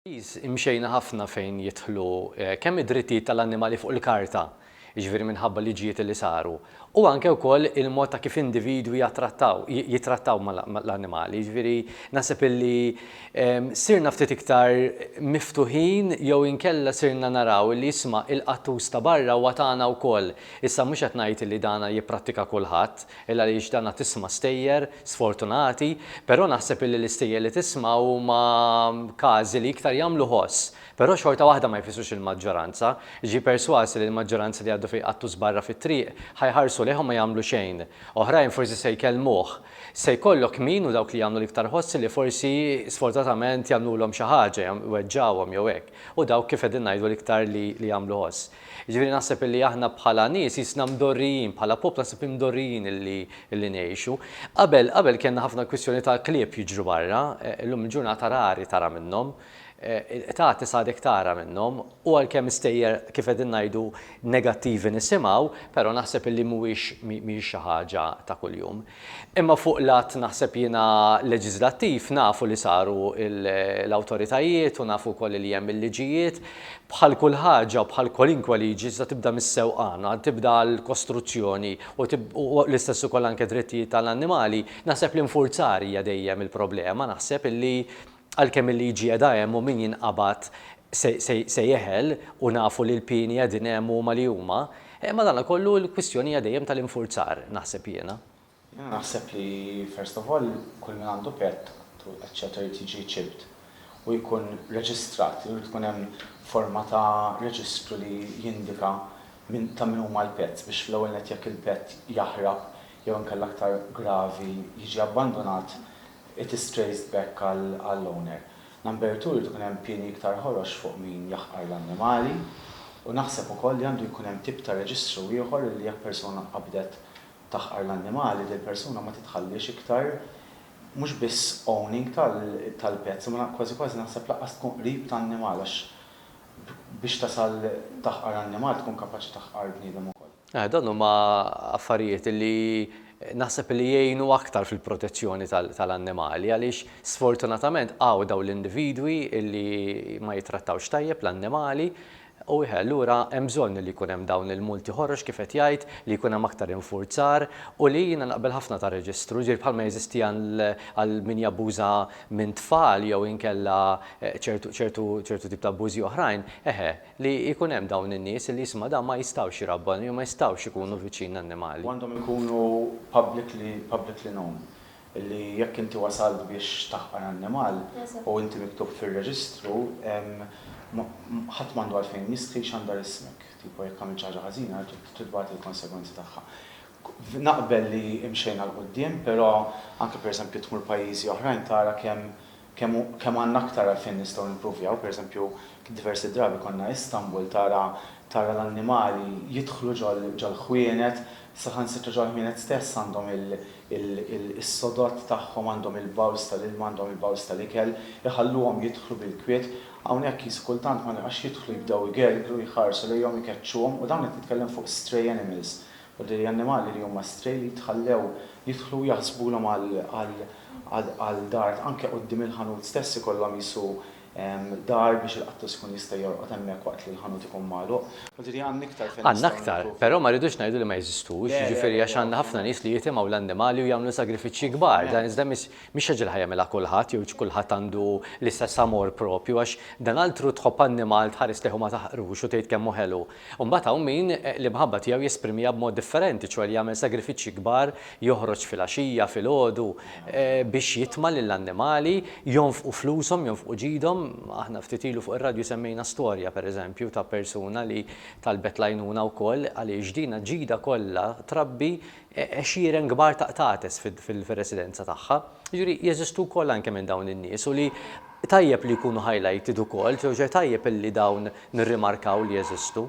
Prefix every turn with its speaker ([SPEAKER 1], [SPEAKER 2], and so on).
[SPEAKER 1] Pajjiż imxejna ħafna fejn jidħlu kemm id-drittijiet tal-annimali fuq il-karta, jiġifieri minħabba liġijiet li saru, u anke wkoll il-mod ta' kif individwi jattrattaw, jittrattaw mal-annimali. Jiġifieri naħseb illi sirna ftit iktar miftuħin jew inkella sirna naraw illi isma' il-qattus ta' barra huwa tagħna wkoll. Issa mhux qed ngħid illi dana jipprattika kulħadd, Illa għaliex danha tisma' stejjer sfortunati, però naħseb illi l-istejjer li tisma' huma każi li iktar jagħmlu ħoss, però xorta waħda ma jfissrux il-maġġoranza. Ġie persważ illi l-maġġoranza li jgħaddu fi qattu żbarra fit-triq ħa jħarsu lejha u ma jagħmlu xejn. Oħrajn forsi se jkellmuh. Se jkollok min u dawk li jagħmlu l-iktar ħoss illi forsi sfortunatament jagħmlulhom xi ħaġa, jweġġgħuhom jew hekk, u dawk kif qegħdin ngħidu l-iktar li jagħmlu ħoss. Jiġifieri naħseb illi aħna bħala nies qisna mdorrijin, bħala poplu naħseb imdorrijin illi illi ngħixu. Qabel qabel kellna ħafna kwistjoni ta' klieb jiġru barra, illum il-ġurnata rari tara minnhom, qtati s'għadek tara minnhom, u għalkemm stejjer kif qegħdin ngħidu negattivi nisimgħu, però naħseb illi mhuwiex mhijiex xi ħaġa ta' kuljum. Imma fuq l-att naħseb jiena leġiżlattiv nafu li saru l-awtoritajiet u nafu wkoll li hemm il-liġijiet. Bħal kull ħaġa u bħal kwalinkwe liġi iżda tibda mis-sewqan, tibda l-kostruzzjoni u l-istess ukoll anke drittijiet tal-annimali, naħseb l-infurzar hija dejjem il-problema, naħseb illi Għalkemm il-liġi qiegħda hemm u min jinqabad se jeħel u nafu li l-pieni qegħdin hemm u huma li huma, madankollu l-kwistjoni hija dejjem tal-infurzar, naħseb jiena. Jiena naħseb
[SPEAKER 2] li first of all kull min għandu pett eċċetera jrid jiġi chipped u jkun reġistrat, irid ikun hemm forma ta' reġistru li jindika min ta' min huma l-pets biex fl-ewwel nett jekk il-pett jaħrab jew inkella aktar gravi jiġi abbandunat It is traced back għall-owner. Number two, irid ikun hemm pieni iktar ħorox fuq min jaħqar l-annimali. U naħseb ukoll li għandu jkun hemm tip ta' reġistru ieħor illi jekk persuna qabdet taħqar l-annimali, dil-persuna ma titħalliex iktar mhux biss owning tal-pets imma kważi kważi naħseb lanqas tkun qrib ta' annimal għax biex tasal taħqar annimal tkun kapaċi taħqar bniedem ukoll. Dawn huma
[SPEAKER 1] affarijiet li naħseb li jgħinu aktar fil-protezzjoni tal-annimali għaliex sfortunatament hawn dawn l-individwi li ma jittrattawx tajjeb l-annimali u allura hemm bżonn li jkun hemm dawn il-multi ħorox kif qed jgħid li jkun hemm aktar infurzar u li jiena naqbel ħafna ta' reġistru jiġifieri bħalma jeżisti għal min jabbuża minn tfal jew inkella ċertu tip ta' abbużi oħrajn eħe Li jkun hemm dawn in-nies li jisma' dawn ma jistgħux jrabbanu jew ma jistgħux ikunu viċin l-annimali. Għandhom ikunu
[SPEAKER 2] publicly publicly known. Li jekk inti wasalt biex taħqar annimal u inti miktub fir-reġistru ħadd m'għandu għalfejn jistħi jxandar ismek. Tipo jekk għamilt xi ħaġa ħażina trid tbati l-konsegwenzi tagħha. Naqbel li imxejna 'l quddiem però anke pereżempju tmur pajjiżi oħrajn tara kemm Kemm għandna aktar għalfejn nistgħu nimpruvjaw, pereżempju, diversi drabi konna Istanbul tara tara l-annimali jidħlu ġol-ħwienet, saħansitra ġol-ħwienet stess għandhom is-sodod tagħhom, għandhom il-bowls tal-ilma, għandhom il-bowls tal-ikel, iħalluhom jidħlu bil-kwiet. Hawnhekk qisu kultant ma nibqax jidħlu jibdew igergru, jħarsu lejhom, ikeċċuhom u dawn qed nitkellem fuq stray animals, u li annimali li huma stray li jitħallew jidħlu u jaħsbulhom għal għal għal għal dar anke quddiem il-ħanut stess ikollhom qisu dar biex il-qattus ikun jista' jorqod hemmhekk waqt li l-ħanut ikun magħluq. Għandna
[SPEAKER 1] aktar, però ma rridux ngħidu li ma jeżistux, jiġifieri għax għandna ħafna nies li jitimgħu l-annimali u jagħmlu sagrifiċċji kbar, dan iżda mhix mhix ħaġa li ħa jagħmilha kulħadd jew kulħadd għandu l-istess amor proprio għax dan altru tħobb annimal tħares lejh u ma taħqrux u tgħid kemm hu ħelu. U mbagħad hawn min l-imħabba tiegħu jesprimiha b'mod differenti, ċoe li jagħmel sagrifiċċji kbar, joħroġ filgħaxija, filgħodu, biex jitma' lill-annimali, jonfqu flushom, jonfqu ġidhom. Aħna ftit ilu fuq ir-radju semmejna storja, pereżempju, ta' persuna li talbet l-għajnuna wkoll għaliex dina ġidha kollha trabbi għexieren kbar ta' qtates fir-residenza tagħha. Jiġifieri jeżistu wkoll anke minn dawn in-nies u li tajjeb li jkunu highlighted ukoll, ġoġe tajjeb illi dawn nirrimarkaw li jeżistu.